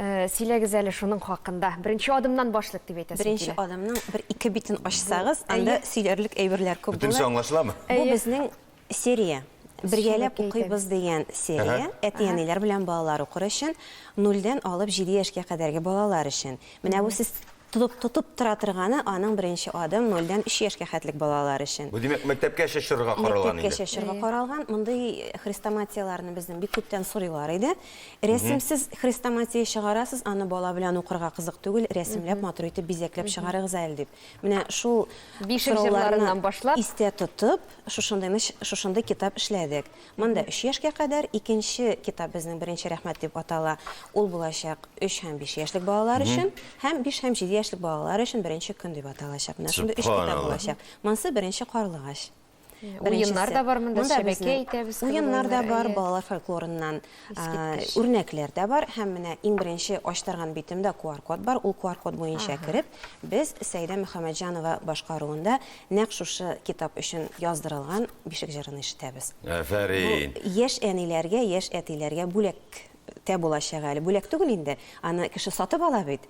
Э, сөйләгез әле шуның хакында. Беренче адымнан башлык дип әйтәсез. Беренче адымның бер ике битен ачсагыз, анда сөйләрлек әйберләр күп Бүтенче аңлашыламы? Бу безнең серия. Бергәләп укыйбыз дигән серия. Әти-әниләр белән балалар укыр өчен, 0 алып 7 яшькә кадәрге балалар өчен. Менә бу сез Тотып тотып тора торганы аның беренче адым, нольдән өч яшькә хәтлек балалар өчен. Бу димәк мәктәпкәчә чорырга каралган инде. Мәктәпкәчә чорырга каралган. Мондый хрестоматияләрне безнең бик күптән сорыйлар иде. Рәсемсез хрестоматия чыгарасыз, аны бала белән укырга кызык түгел, рәсемләп, матур итеп, бизәкләп чыгарыгыз әле дип. Менә шул сорауларны истә тотып, шушындый китап эшләдек. Монда өч яшькә кадәр икенче китап безнең беренче рәхмәт дип атала. Ул булачак өч һәм биш яшьлек балалар өчен һәм биш һәм җиде яшьлек балалар өчен беренче көн дип аталачак. Менә шундый өч китап булачак. Монсы беренче карлыгач. Уеннар да бар монда, Чәбәкәй әйтәбез кебек уеннар. Уеннар да бар, балалар фольклорыннан үрнәкләр дә бар. Һәм менә иң беренче ачтырган битемдә QR-код бар. Ул QR-код буенча кереп, Без Сәидә Мөхәммәтҗанова башкаруында нәкъ шушы китап өчен яздырылган Бишек җырын ишетәбез. Афәрин! Бу яшь әниләргә, яшь әтиләргә бүләк тә булачак әле. Бүләк түгел инде, аны кеше сатып ала бит.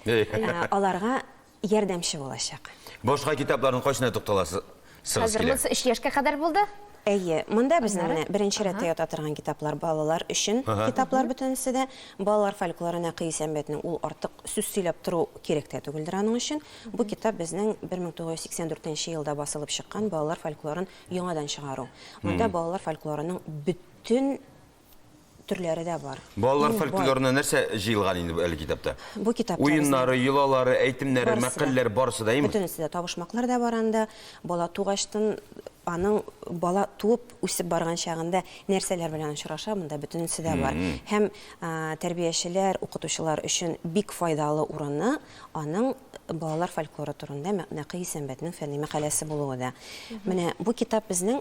Аларга ярдәмче булачак. Башка китапларны кайсына тукталасыз? чыгасы Хәзер килә. монысы өч яшькә кадәр булды. Әйе, монда безнең Аннары? менә беренче Ага. рәттә ята торган китаплар, балалар өчен Ага. китаплар бөтенесе дә. Балалар фольклоры Нәкый Исәнбәтнең, ул артык сүз сөйләп тору кирәк тә түгелдер аның өчен. Бу китап безнең 1984 нче елда басылып чыккан балалар фольклорын яңадан чыгару. Монда балалар фольклорының бөтен төрләре дә бар. Балалар фольклорына нәрсә җыелган инде бу әле китапта? Бу китапта уеннары, йолалары, әйтемнәре, мәкальләр барысы да, әйеме? Бөтенесе дә, табышмаклар да бар анда. Бала тугачтын аның бала туып үсеп барган чагында нәрсәләр белән очраша, монда бөтенесе дә бар. Һәм тәрбиячеләр, укытучылар өчен бик файдалы урыны аның балалар фольклоры турында Нәкый Исәнбәтнең фәнни мәкаләсе булуы да. Менә бу китап безнең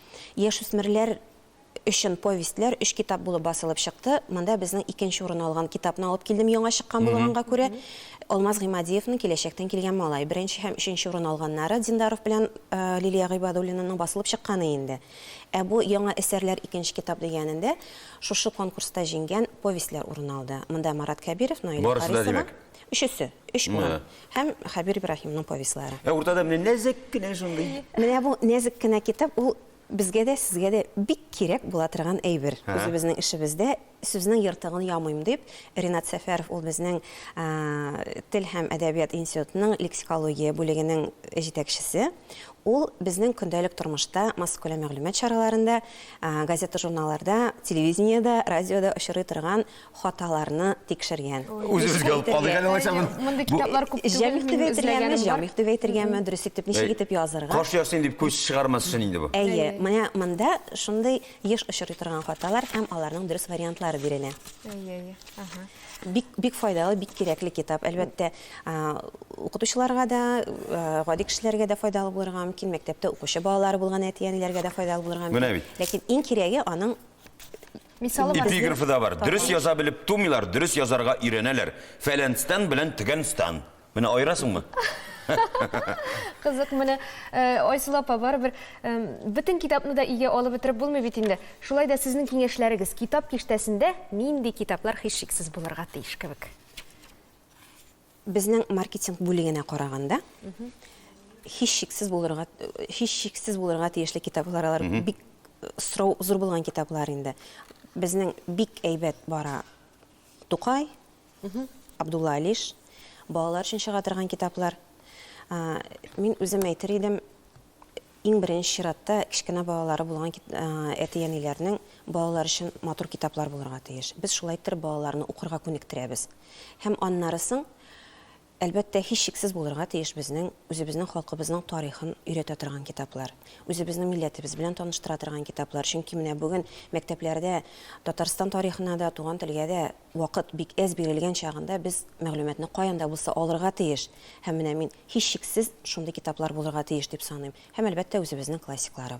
Яшүсмерләр өчен повестьләр өч китап булып басылып чыкты. Монда безнең икенче урын алган китапны алып килдем, яңа чыккан булганга күрә. Алмаз Гыймадиевның Киләчәктән килгән малай. Беренче һәм өченче урын алганнары Диндаров белән Лилия Гыйбадуллинаның басылып чыкканы инде. Ә бу яңа әсәрләр икенче китап дигәнендә шушы конкурста җиңгән повестьләр урын алды. Монда Марат Кәбиров, Наилә Харисова. Барысы да, димәк? Өчесе. Өч урын. Һәм Хәбир Ибраһимның повестьлары. Ә уртада менә нәзек кенә шундый. Менә бу нәзек кенә китап ул безгә дә, сезгә дә бик кирәк була торган әйбер. Үзебезнең эшебездә сүзнең ертыгын ямыйм дип, Ринат Сәфәров ул безнең Тел һәм әдәбият институтының лексикология бүлегенең җитәкчесе. Ул безнең көндәлек тормышта, массакүләм мәгълүмат чараларында, газета-журналларда, телевидениедә, радиода очрый торган хаталарны тикшергән. Үзебезгә алып калыйк әле алайса моны. Мондый китаплар күп түгел. Җәмигъ дип әйтергәме, җамигъ дип әйтергәме, дөресрәк итеп ничек итеп язырга? Кош ясыйм дип күз чыгармас өчен инде бу. Әйе, менә монда шундый еш очрый торган хаталар һәм аларның дөрес вариантлары бирелә. Әйе, әйе. Аһа. Бик, бик файдалы, бик кирәкле китап. Әлбәттә, укытучыларга да, гади кешеләргә дә файдалы булырга мөмкин, мәктәптә укучы балалары булган әти-әниләргә дә файдалы булырга мөмкин. Менә бит. Ләкин иң кирәге аның Мисалы бар. Эпиграфы да бар. Дөрес яза белеп тумыйлар, дөрес язарга өйрәнәләр. Фәләнстан белән төгәнстан. Менә аерасыңмы? Кызык менә э, Айсылу апа барыбер бөтен китапны да иге алып бетереп булмый бит инде. Шулай да сезнең киңәшләрегез китап киштәсендә нинди китаплар һичшиксез булырга тиеш кебек? Безнең маркетинг бүлегенә караганда, һичшиксез булырга, һичшиксез булырга тиешле китаплар алар бик сорау зур булган китаплар инде. Безнең бик әйбәт бара Тукай, Абдулла Алиш, балалар өчен чыга торган китаплар. Мин үзем әйтер идем, Иң беренче чиратта кечкенә балалары булган әти-әниләрнең балалар өчен матур китаплар булырга тиеш. Без шулай иттереп балаларны укырга күнектерәбез. Һәм аннары соң, әлбәттә, һичшиксез булырга тиеш безнең үзебезнең халкыбызның тарихын өйрәтә торган китаплар, үзебезнең милләтебез белән таныштыра торган китаплар. Чөнки менә бүген мәктәпләрдә Татарстан тарихына да, туган телгә дә Вакыт бик әз бирелгән чагында без мәгълүматны каян да булса алырга тиеш. Һәм менә мин, һичшиксез, шундый китаплар булырга тиеш дип саныйм. Һәм, әлбәттә, үзебезнең классикларыбыз.